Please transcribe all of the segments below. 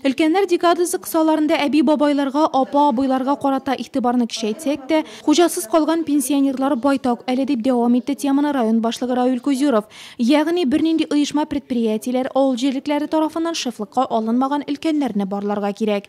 Өлкәннәр декадасы кысаларында әби-бабайларга, апа-абыйларга карата игътибарны кичәйтсәк тә, хуҗасыз калган пенсионерлар байтак әле, дип дәвам итте теманы район башлыгы Равил Кузюров. Ягъни, бернинди оешма-предприятиеләр, авыл җирлекләре тарафыннан шефлыкка алынмаган өлкәннәрне барларга кирәк.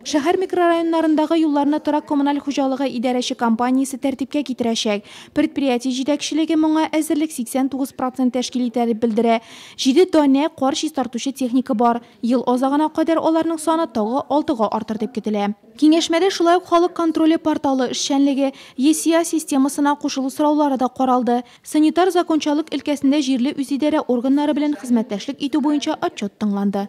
Шәһәр микрорайоннарындагы юлларны торак-коммуналь хуҗалыгы идарәче компаниясе тәртипкә китерәчәк. Предприятие җитәкчелеге моңа әзерлек 89 процент тәшкил итә, дип белдерә. Җиде данә кар чистартучы техника бар. Ел азагына кадәр аларның саны тагы алтыга артыр дип көтелә. Киңәшмәдә шулай ук халык контроле порталы эшчәнлеге, ЕСИА системасына кушылу сораулары да каралды. Санитар закончалык өлкәсендә җирле үзидарә органнары белән хезмәттәшлек итү буенча отчет тыңланды.